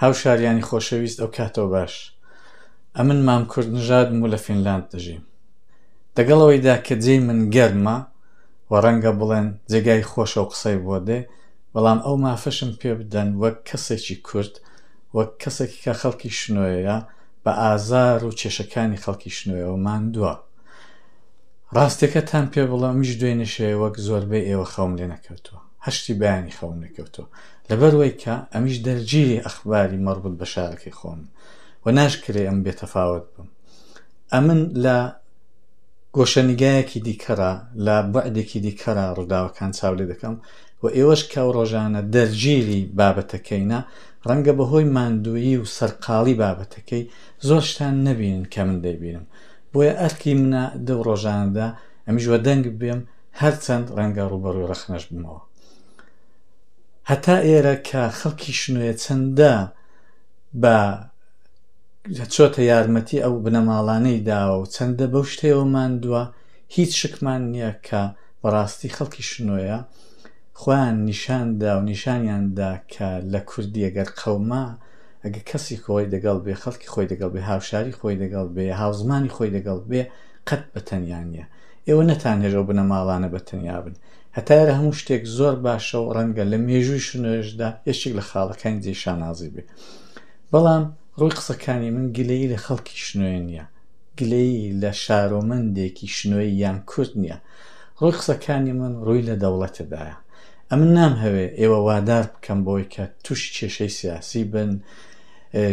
هاوشاریانی خۆشەویست ئەوکاتەوە باش ئەمن مام کورد نژادم و لە فینلاند دەژیم دەگەڵ ئەوەیدا کە جێی من گەرمە و ڕەنگە بڵێن جێگای خۆشە و قسەی بۆ دێ بەڵام ئەو مافەشم پێ بدەن وەک کەسێکی کورد وەک کەسێکی کە خەڵکی شنۆیە بە ئازار و کێشەکانی خەڵکی شنۆیەوە ماندووە ڕاستەکەتان پێ بڵێ ئەمیش دوێنێ شەوێ وەک زۆربەی ئێوە خەوم لێ نەکەوتووە هەشتی بەیانی خەوم نەکەوتووە لەبەروەی کە ئەمیش دەرگیری ئەخباری مەڕبوت بە شارەکەی خۆم و ناشکرێ ئەم بێتەفاوەت بم ئەمن لە گۆشەنیگایەکی دیکەرا لە بەعدێکی دیکەرا ڕووداوەکان چاو لێ دەکەم و ئێوەش کە ڕۆژانە دەرگیری بابەتەکەینە ڕەنگە بەهۆی ماندوویی و سەرقاڵی بابەتەکەی زۆر شتان نەبینن کە من دەیبینم بۆیە ئەرکی منە دەو ڕۆژانەدا ئەمیش وە دەنگ بێم هەرچەند ڕەنگە ڕوبەڕوی ڕەخنەش بمەوە هەتا ئێرە کە خەڵکی شنۆیە چەندە بە چۆتە یارمەتی ئەو بنەماڵانەی داوە و چەندە بەو شتەوە ماندووە هیچ شکمان نییە کە بەڕاستی خەڵکی شنۆیە خۆیان نیشاندا و نیشانیاندا کە لە کوردی ئەگەر قەوما ئەگە کەسی خۆی دەگەڵ بێ خەڵکی خۆی دەگەڵ بێ هاوشاری خۆی دەگەڵ بێ هاوزمانی خۆی دەگەڵ بێ قەت بەتەنیا نیە ئێوە نەتان هێژە و بنەماڵانە بەتەنیا بن هەتا ئێرە هەموو شتێک زۆر باشە و ڕەنگە لە مێژووی شنۆێشدا یەکێک لە خاڵەکانی جێ شانازی بێ بەڵام ڕووی قسەکانی من گلەیی لە خەڵکی شنوێ نییە گلەیی لە شارۆمەندێکی شنوێ یان کورد نییە ڕووی قسەکانی من ڕووی لە دەوڵەتەدایە ئەمن نام هەوێ ئێوە وادار بکەم بۆی کە تووشی کێشەی سیاسی بن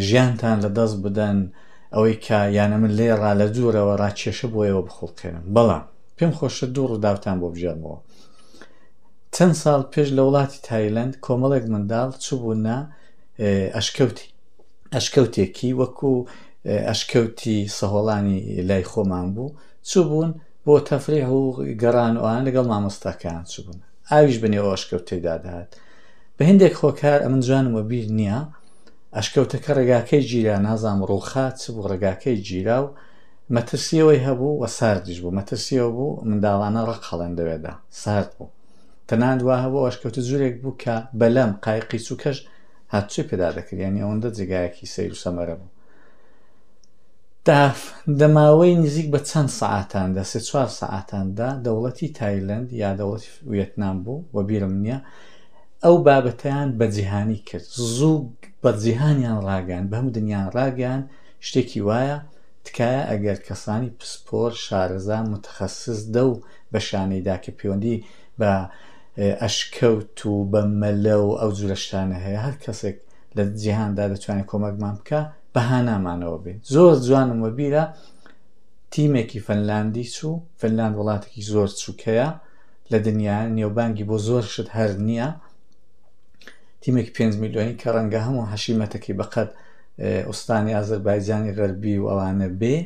ژیانتان لە دەست بدەن ئەوەی کە یانە من لێ ڕا لە دوورەوە ڕاکێشە بۆ ئێوە بخڵقێنم بەڵام پێم خۆشە دوو ڕووداوتان بۆ بگێڕمەوە. چەند ساڵ پێش لە وڵاتی تایلەند کۆمەڵێک منداڵ چووبوونە ئەشکەوتی. ئەشکەوتێکی وەکو ئەشکەوتی سەهۆڵانی لای خۆمان بوو. چووبوون بۆ تەفریح و گەڕان و ئەوان لەگەڵ مامۆستاکەیان چووبوون. ئاویش بەنێو ئەو ئەشکەوتەیدا دەهات. بە هێندێک خۆکار ئەمن جوانم وەبیر نییە، ئەشکەوتەکە ڕێگاکەی گیرا، نازانم ڕووخا چ بوو ڕێگاکەی گیرا و مەترسییەوەی هەبوو و ساردیش بوو، مەترسییەوە بوو منداڵانە ڕق هەڵێن لەوێدا، سارد بوو، تەنانەت وا هەبوو ئەوەش کەوتە جورێک بوو کە بەلەم قایقی چووکەش هاتوچۆی پێدا دەکرد، یانی ئەوەندە جێگایەکی سەیر و سەمەرە بوو. تا دە ماوەی نزیک بە چەند سەعاتان دا، سێ چوار سەعاتان دا، دەوڵەتی تایلەند یا دەوڵەتی ویەتنام بوو، وەبیرم نییە، ئەو بابەتەیان بە جیهانی کرد، زوو بە جیهانیان ڕاگەیاند، بە هەموو دنیا ڕاگەیاند، شتێکی وایە، تکایە ئەگەر کەسانی پسپۆر شارەزا متخصص دەو بەشانەی دا کە پێوەندی بە ئەشکەوت و بە مەلە و ئەو جورە شتانە هەیە هەر کەسێک لە جیهان دا دەتوانێت کۆمەکمان بکا بە هانامانەوە بێ زۆر جوانم وە بیرە تیمێکی فەنلاندی چوو فەنلاند وڵاتێکی زۆر چووکەیە لە دنیا نێوبانگی بۆ زۆر شت هەر نییە تیمێک پێنج میلیۆنی کە ڕەنگە هەموو حەشیمەتەکەی بەقەت ئوستانی ئازەربایجانی غەربی و ئەوانە بێ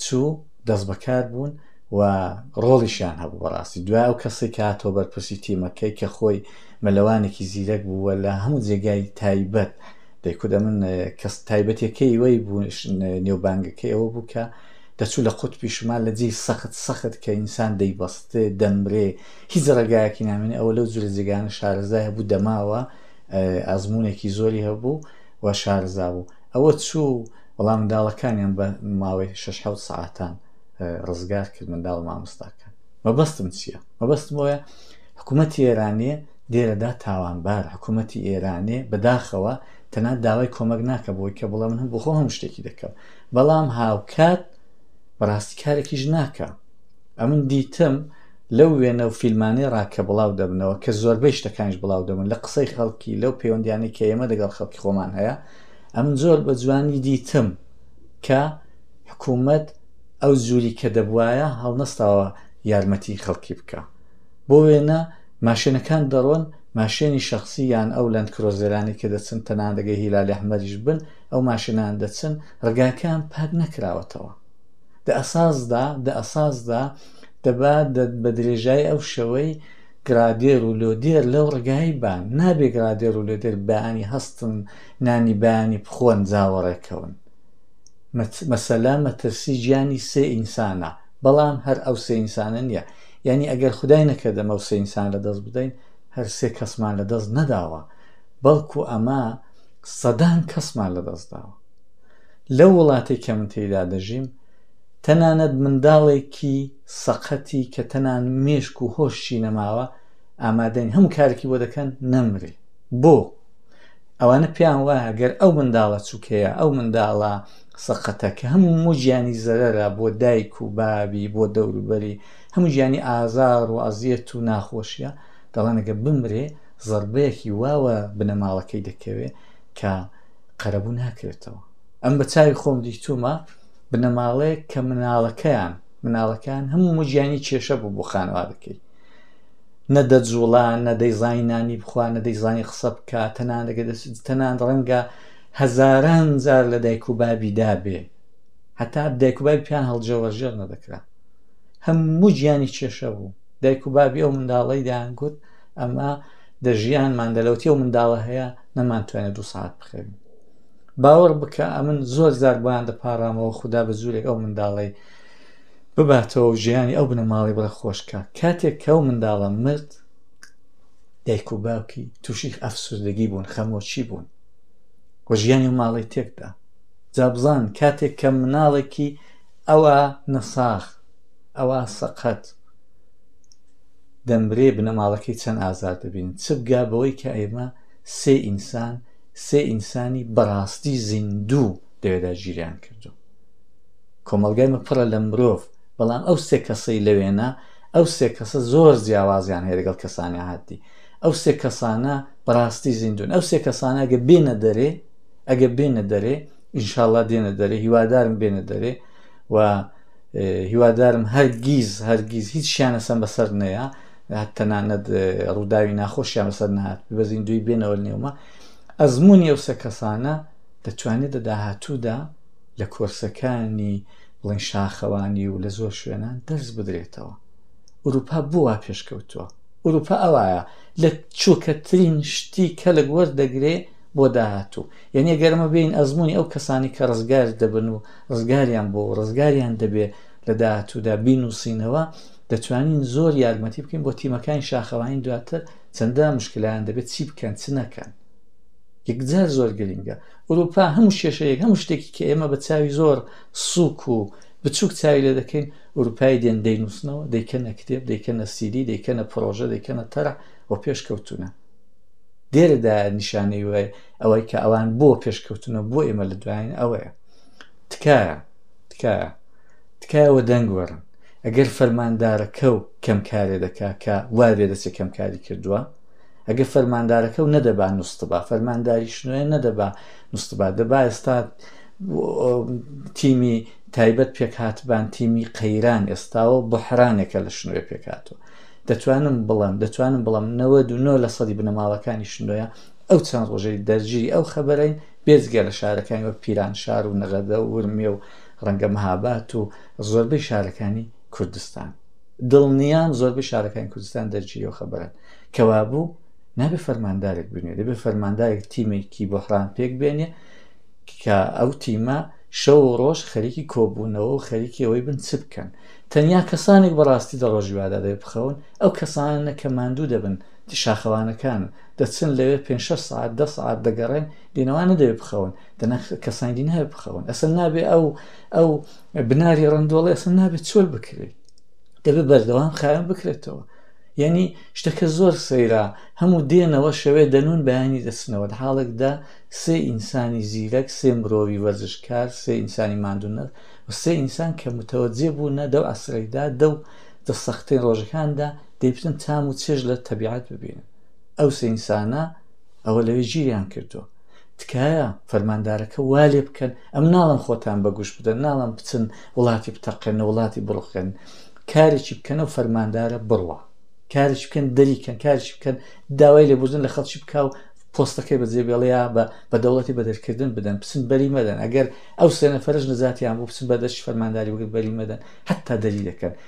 چوو دەست بەکار بوون و ڕۆڵیشیان هەبوو بەڕاستی دوای ئەو کەسی کاتۆ بەرپرسی تیمەکەی کە خۆی مەلەوانێکی زیرەک بووە لە هەموو جێگای تایبەت دەیکودا من کەس تایبەتەکەی وەی بوون نێوبانگەکەی ئەوە بوو کە دەچوو لە قوت پیشمان لە جێی سەخت سەخت کە ئینسان دەیبەستێ دەمرێ هیچ ڕێگایەکی نامێنێ ئەوە لەو جورە جێگانە شارەزای هەبوو دەماوە ئەزموونێکی زۆری هەبوو و شارەزا بوو. ئەوە چوو، وەڵا منداڵەکانیان بە ماوەی شەش حەوت سەعاتان ڕزگار کرد، منداڵ و مامۆستاکان. مەبەستم چییە؟ مەبەستم ئەوەیە حکوومەتی ئێرانێ لێرەدا تاوانبارە. حکوومەتی ئێرانێ بە داخەوە تەنانەت داوای کۆمەک ناکا بۆی کە بڵێ من بۆ خۆم هەموو شتێکی دەکەم، بەڵام هاوکات بەڕاستی کارێکیش ناکا. ئەمن دیتم لەو وێنە و فیلمانەی ڕا کە بڵاو دەبنەوە کە زۆربەی شتەکانیش بڵاو دەبن لە قسەی خەڵکی لەو پەیوەندیانەی کە ئێمە دەگەڵ خەڵکی خۆمان هەیە ئەمن زۆر بە جوانی دیتم کە حکوومەت ئەو جووری کە دەبواە هەڵنەستاوە یارمەتی خەڵکی بکە بۆ وێنە ماشێنەکان دەڕۆن ماشێنی شخصی یان ئەو لەند کرۆزێرانی کە دەچن تەناندەگەی هیلالی ئەحمەریش بن ئەو ماشێنان دەچن ڕگاکان پاک نەکراوەتەوە دە ئەساسدا دە ئەساسدا دەبا بە درێژای ئەو شەوەی گرادێر و لۆدێر لەو ڕگایی بان نابێ گرادێر و لۆدێر بەیانی هەستن نانی بەیانی بخۆن جاوەڕێکەون مەسەلا مەترسی گیانی سێ ئینسانە بەڵام هەر ئەو سێ ئینسانە نییە یعنی ئەگەر خدای نەکردە مەوسە ئینسان لە دەست بدەین هەر سێ کەسمان لە دەست نەداوە بەڵکو ئەمە سەدان کەسمان لە دەست داوە لەو وڵاتەی کە من تێیدا دەژیم، تەنانەت منداڵێکی سەقەتی کە تەنها مێشک و هۆشی نەماوە، ئامادەین هەموو کارێکی بۆ دەکەن نەمرێ. بۆ؟ ئەوانە پێیان وایە گەر ئەو منداڵە چوکەیە، ئەو منداڵە سەقەتە کە هەموو گیانی زەرەرە بۆ دایک و بابی، بۆ دەوروبەری، هەموو گیانی ئازار و ئەزیەت و ناخۆشییە، دەڵێن ئەگەر بمرێ زەربەیەکی وا بە بنەماڵەکەی دەکەوێ کە قەرەبوو ناکرێتەوە ئەم بە چاوی خۆم دیتومە بنەماڵەیەک کە مناڵەکەیان مناڵەکان هەموو مژیانی کێشە بوو بۆ خانوادەکەی نەدە جوڵا نەدەی زانی نانی بخوا نەدەی زانی قسە بکە تەنان دەگە تەنان ڕەنگە هەزاران جار لە دایک و بابی دابێ هەتا دایک و بابی پیان هەڵجێوەژێر نەدەکرا هەموو گیانی کێشە بوو دایک و بابی ئەو منداڵی دەیان گوت ئەمە دەژیان مادەلەوتی و منداڵە هەیە نەمانتوانێت دوو سعات بخەوین باوەڕ بکە ئەمن زۆر زار بۆیان دەپارامەوە خوددا بە جوورێک ئەو منداڵی بباتەوە و ژیانی ئەو بنەماڵی بڕە خۆشکە کاتێک کە و منداڵە مرد دایک و باوکی تووشی ئەفسوردەگی بوون خەمۆچی بوون و ژیانی و ماڵی تێکدا جابزان کاتێک کە مناڵێکی ئەوە نەساخ ئەوە سەقەت دەمرێ بنەماڵەکەی چەند ئازار دەبینن چ بگا بەوەی کە ئێمە سێ ئینسان سێ ئینسانی بەڕاستی زیندوو لەوێدا گیریان کردو کۆمەلگای من پڕە لە مرۆڤ بەڵام ئەو سێ کەسەی لەوێنە ئەو سێ کەسە زۆر جیاوازیان هەیە لەگەڵ کەسانی عادی ئەو سێ کەسانە بەڕاستی زیندون ئەو سێ کەسانە گە بێنە دەرێ ئەگە بێنە دەرێ ئینشاالله دێنە دەرێ هیوادارم بێنە دەرێ و هیوادارم هەرگیز هەرگیز هیچیان هەستان بەسەر نەیە تەنانەت ڕووداوی ناخۆشیان بەسەر نهات بەزین دوی بێنەوە نێومە ئەزمموی ئەو سە کەسانە دەتوانێت لە داهاتوودا لە کۆرسەکانی بڵین شاخەوانی و لە زۆر شوێنان دەرز بدرێتەوە ئوروپا بووە پێشکەوتووە ئوروپا ئەوایە لە چووکەترین شتی کەلک وەردەگرێ بۆ داهاتوو یعنی گەرمە بین ئەزمموی ئەو کەسانی کە ڕزگار دەبن و ڕزگاریان بۆ ڕزگاریان دەبێ لە داهاتوودا بینووسینەوە دەتوانین زۆر یارمەتی بکەین بۆ تیمەکانی شاخەوانی دواتر چەندە مشکلیان دەبێت چی بکەن چ نەکەن یەکجار زۆر گرنگە ئەوروپا هەموو شێشەیەک هەموو شتێکی کە ئێمە بە چاوی زۆر سوک و بچووک چاوی لێ دەکەین ئەوروپای دێن دەینووسنەوە دەیکەنە کتێب دەیکەنە سیدی دەیکەنە پرۆژە دەیکەنە تەرە و پێشکەوتونە دێرەدا نیشانەی وای ئەوەی کە ئەوان بۆ پێشکەوتنە بۆ ئێمە لە دوایین ئەوەیە تکایە تکایە تکایە وە دەنگ وەرن ئەگەر فەرماندارەکە و کەم کارێ دەکا کە وابێ دەچێت کەم کاری کردووە ئەگە فەرماندارەکە و نەدەبا نوستبا فەرمانداری شنوێ نەدەبا نوستبا دەبا ئێستا تیمی تایبەت پێکهاتبان تیمی قەیران ئێستاوە بحرانێکە لە شنوێ پێکاتوە دەتوانم بڵم دەتوانم بڵم نەوە دو نۆ لە سەدی بنەماڵەکانی شنوۆە ئەو چەند ڕۆژەی دەرگیری ئەو خەبەرین بێجگە لە شارەکانی وەک پیرانشار و نەغەدە و ورمێ و ڕەنگە مەهاباد و زۆربەی شارەکانی کوردستان. دڵنیام زۆربەی شارەکانی کوردستان دەرکی لەو خەبەرەن. کەوابوو نابێ فەرماندارێک بنوێ دەبێ فەرماندارێک تیمێکی بۆحران پێک بێنێ کە ئەو تیمە شەو و ڕۆژ خەریکی کۆبوونەوە و خەریکی ئەوەی بن چ بکەن تەنیا کەسانێک بەڕاستی دەڕۆژیوادا دەێ بخەون ئەو کەسانە کە ماندوو دەبن شاخەوانەکانن دەچن لەوێ پێنج شەش سعات دە سعات دەگەڕێن دێنەوە نەدەوێت بخەون دەنا کەسانی دی ناوێت بخەون ئەسن نابێ ئەو ئەو بناری ڕندۆڵی ئەسن نابێت چۆل بکرێت دەبێت بەردەوام خاوێن بکرێتەوە یعنی شتەکە زۆر سەیرا هەموو دێنەوە شەوێ دەنون بەیانی دەچنەوە لە حاڵێکدا سێ ئینسانی زیرەک سێ مرۆڤی وەرزشکار سێ ئینسانی مادونە و سێ ئینسان کە متەوەجێ بوو نە دەو ئەسرەیدا دەو دە سەختەی ڕۆژەکاندا دەی بچن تام و چێژ لە تەبیعەت ببینن ئەو سێ ئینسانە ئەوە لەوێ گیریان کردووە تکایە فەرماندارەکە وا لێ بکەن ئەم ناڵم خۆتان بەگوش بدەن ناڵم بچن وڵاتی بتەقێنە وڵاتی بڕخێن کارێکی بکەنە و فەرماندارە بڕوە کارش بکەن دەریکەن کارش بکەن داوای لێبوردن لە خەڵکی بک و پۆستەکەی بەجێ بێڵەیە بە بە دەوڵەتی بەدەرکردن بدەن بچن بەری مەدەن ئەگەر ئەو سێنەفەرش نەزاتیان بۆ بچن بەدەش فەرمانداری وەگەر بەری مەدەن حتا دەری دەکەن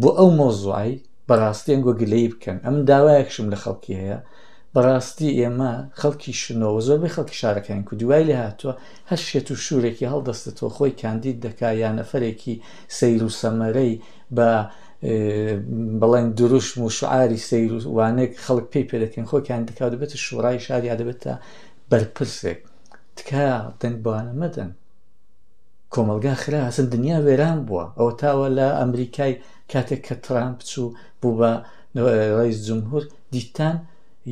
بۆ ئەو مۆزوعی بەڕاستی ئەنگۆ گلەی بکەن ئەم داوایەکشم لە خەڵکی هەیە بەڕاستی ئێمە خەڵکی شنەوە زۆربەی خەڵکی شارەکەیان کو دوای لە هاتووە هەر شێت و شوورێکی هەڵدەستێتەوە خۆی کاندید دەکا یا نەفرێکی سیر و سەمەرەی بە بڵێن دروشم و شعاری سیر و وانێک خەڵک پێی پێ دەکەن خۆی کاندید دەکا دەبێتە شوڕای شار یا دەبێتە بەرپرسێک تکایە دەنگ بەوانە مەدەن کۆمەڵگا خرا هەسن دنیا وێران بووە ئەوە تاوە لە ئەمریکای کاتێک کە ترامپ چوو بوو بە ڕیز جمهور دیتان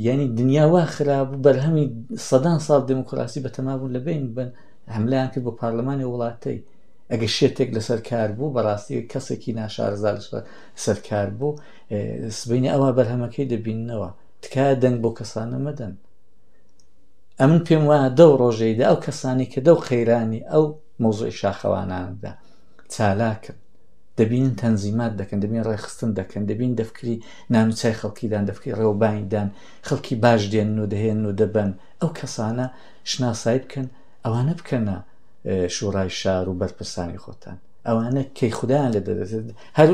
یعنی دنیا وا خرابوو بەرهەمی سەدان ساڵ دموکراسی بەتەمابوون لە بین بن هەملیان کرد بۆ پارلەمانی وڵاتەی ئەگە شێتێک لەسەر کار بوو بەڕاستی کەسێکی ناشارزا لەسەر کار بوو سبینە ئەوە بەرهەمەکەی دەبینەوە تکایە دەنگ بۆ کەسانە مەدەن ئەمن پێم وایە دەو ڕۆژەیدا ئەو کەسانی کە دەو قەیرانی ئەو مۆزۆی شاخەواناندا چالاکن دەبینن تەنزیمات دەکەن دەبین ڕێخستن دەکەن دەبین دەفکری نانوچای خەڵکیدان دەفکی ڕێوبانیدان خەڵکی باش دێن و دەهێن و دەبن ئەو کەسانە شناسایی بکەن ئەوانە بکەنە شوڕای شار و بەرپرسانی خۆتان ئەوانە کەی خودیان لە دەدەێت هەر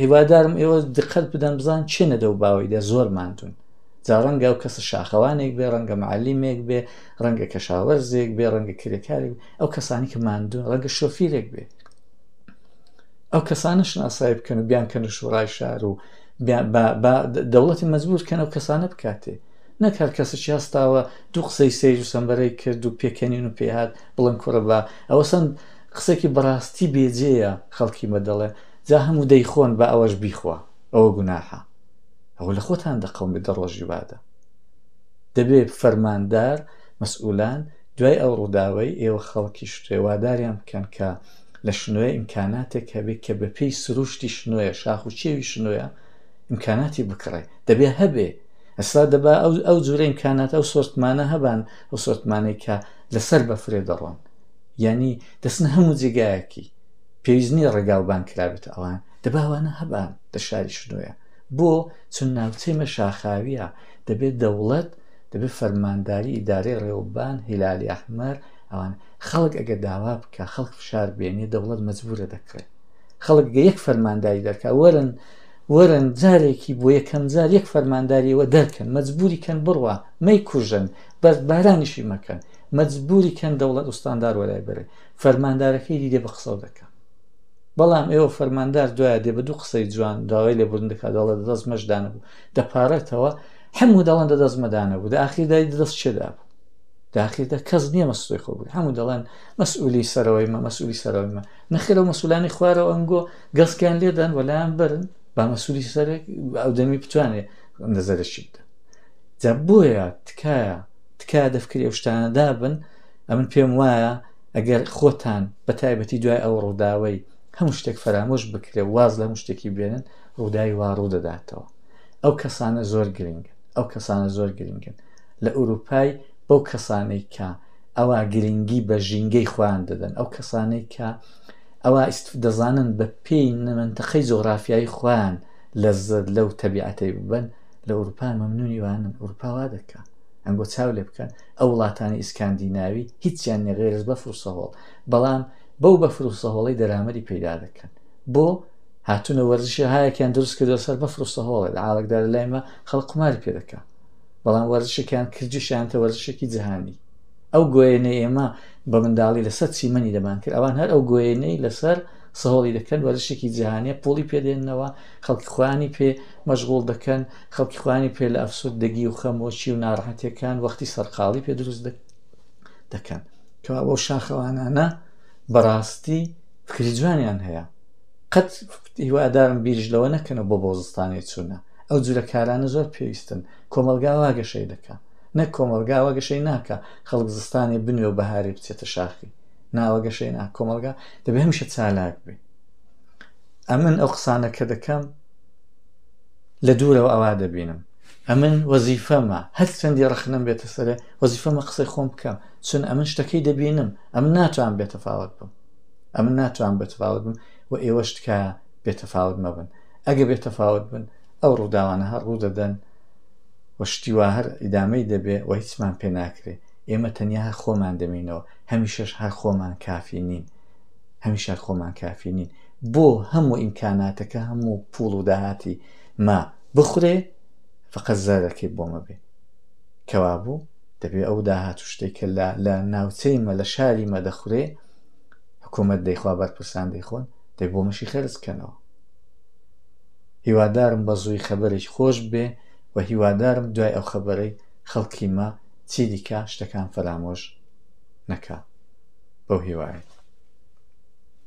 هیوادارم ئێوە دقەت بدەن بزان چێنە دەو باوەیدا زۆر ماندون جا ڕەنگە ئەو کەسە شاخەوانێک بێ ڕەنگە معلیمێک بێ ڕەنگە کەشاوەرزێک بێ ڕەنگە کرێکارێک ئەو کەسانی کە ماندوو ڕەنگە شۆفیرێک بێ ئەو کەسانە شناسایی بکەن و بیان کەنە شوڕای شار و دەوڵەتی مەجبور کەن ئەو کەسانە بکاتێ نەکار کەسێکی هەستاوە دوو قسەی سیر و سەمبەرەی کرد و پێکەنین و پێهات بڵند کوڕە بە ئەوە سند قسێکی بەڕاستی بێجێە خەڵکی مە دەڵێ جا هەموو دەیخۆن بە ئەوەش بیخوا ئەوە گوناحە ئەوە لە خۆتان دەقەوم دە ڕۆژی وادە دەبێت فەرماندار مەسئولان دوای ئەو ڕووداوی ئێوە خەڵکی شتێواداریان بکەن کە لە شنوێ ئیمکاناتێک هەبێت کە بە پێی سروشتی شنوێ شاخ و چێوی شنوێە ئیمکاناتی بکڕێ دەبێ هەبێ ئەسا دەبا ئەو ئەو جورە ئیمکانات ئەو سۆرتمانە هەبان ئەو سۆرتمانەی کە لەسەر بە فرێ دەڕۆن یعنی دەستن هەموو جێگایەکی پێویستنی ڕێگاوبان کرابێت ئەوان دەبا وانە هەبا لە شاری شنۆیە بۆ چون ناوچەی مە شاخاویە دەبێت دەوڵەت دەبێت فەرمانداری ئیدارەی ڕێوبان هیلالی ئەحمەر ئەوان خەڵک ئەگە داوا بکە خەڵک فشار بێنێ دەوڵەت مەجبورە دەکڕێت خەڵک گە یەک فەرمانداری دەرکە وەرن وەرن جارێکی بۆ یەکەم جار یەک فەرمانداریەوە دەرکەن مەجبوری کەن بڕوە مەی کوژن بەس بارانیشی مەکەن مەجبوری کەن دەوڵەت ئوستاندار وەلای بەرێ فەرماندارەکەی دیدێ بە قسەڵ دەکەم بەڵام ئێوە فەرماندار دوایە دێ بە دوو قسەی جوان داوای لێبوردن دەکات دەڵێ دەست مەشدانە بوو دەپارێتەوە هەموو دەڵەن دە دەست مەدانە بوو داخیردای دەست چێدا بوو داخیردا کەس نییە مەسوی خۆ بوو هەموو دەڵێن مەسئولی سەرەوەی مە مەسئولی سەرەوەی مە نەخێرە مەسولانی خوارەوە ئەنگۆ گەڵسکیان لێدەن وەلایان برن با مەسولی سەرێک ئەو دەمی بتوانێت نەزەرشی بدە جا بۆیە تکایە تکایە دەفکری ئەو شتانەدا بن ئەمن پێم وایە ئەگەر خۆتان بە تایبەتی دوای ئەو ڕووداوەی هەموو شتێک فەرامۆش بکرێ و واز لە هەموو شتێکی بێنن ڕووداوی وا ڕوو دەداتەوە ئەو کەسانە زۆر گرنگن ئەو کەسانە زۆر گرنگن لە ئوروپای بەو کەسانەی کە ئەوە گرنگی بە ژینگەی خۆیان دەدەن ئەو کەسانەی کە ئەوە ئیست دەزانن بە پێی نەمەنتەقەی جۆغرافیایی خۆیان لە زەر لەو تەبیعەتەی ببن لە ئوروپا مەمنونی وانن ئوروپاوا دەکە ئەنگۆ چاو لێ بکەن ئەو وڵاتانی ئیسکاندیناوی هیچیان نیە غەیر از بەفر و سەهۆڵ بەڵام بەو بەفر و سەهۆڵەی دەرامەری پەیدا دەکەن بۆ هاتونە وەرزشی هایەکیان دروست کردو سەر بەفر و سەهۆڵێ لە عاڵکدار لای مە خەڵ قماری پێ دەکا بەڵام وەرزشێکیان کردوشیان کە وەرزشێکی جیهانی ئەو گوێنە ئێمە بە منداڵی لەسەر چیمەنی دەمان کرد ئەوان هەر ئەو گوێنەی لەسەر سەهۆڵی دەکەن وەرشێکی جیهانیە پۆڵی پێدێننەوە خەڵکی خوانی پێ مەشغول دەکەن خەڵکی خوانی پێ لە ئەفسود دەگی و خەمۆکی و ناڕحەتەکان وەختی سەرقاڵی پێ دروست دەکەن کەوا بۆ شاخەوانانە بەڕاستی فکری جوانیان هەیە قەت هیوادارم بیرش لەوە نەکەنە بۆ بۆزستانی چوونە ئەو جورە کارانە زۆر پێویستن کۆمەلگاوا گەشەی دەکە نە کۆمەلگاوا گەشەی ناکە خەڵک زستانی بنوێ و بەهاری بچێتە شاخی ناوە گەشەی نا کۆمەلگا دەبێ هەمیشە چالاک بێ ئەمن ئەو قسانەکە دەکەم لە دوورەوە ئەوا دەبینم. ئەمن وەزیفەمە هەرچەندی ڕەخنەم بێتە سەرێ، وەزیفەمە قسەی خۆم بکەم، چون ئەمن شتەکەی دەبینم، ئەمن ناتوانم بێتەفاوەت بم. ئەمن ناتوانم بێتەفاوەت بم و ئێوەش تکایە بێتەفاوەت مەبن. ئەگە بێتەفاوەت بن، ئەو ڕووداوانە هەر ڕوو دەدەن و شتی وا هەر ئیدامەی دەبێ و هیچمان پێ ناکرێ. ئێمە تەنیا هەر خۆمان دەمینەوە. هەمیشەش هەر خۆمان کافی نین. هەمیشە هەر خۆمان کافی نین. بۆ هەموو ئیمکاناتەکە هەموو پوڵ و داهاتی ما بخورێ فقە زەرەکەی بۆمە بێ کەوابوو دەبێ ئەو داهات و شتێکە لە لە ناوچەیمە لە شاری مە دەخورێ حکوومەت دەیخوا بەرپرسان دەیخۆن دەی بۆ مەشی خەرز کەنەوە هیوادارم بە زووی خەبەرێک خۆش بێ و هیوادارم دوای ئەو خەبەرەی خەڵکی مە چی دیکە شتەکان فەرامۆش نەکە بەو هیوایە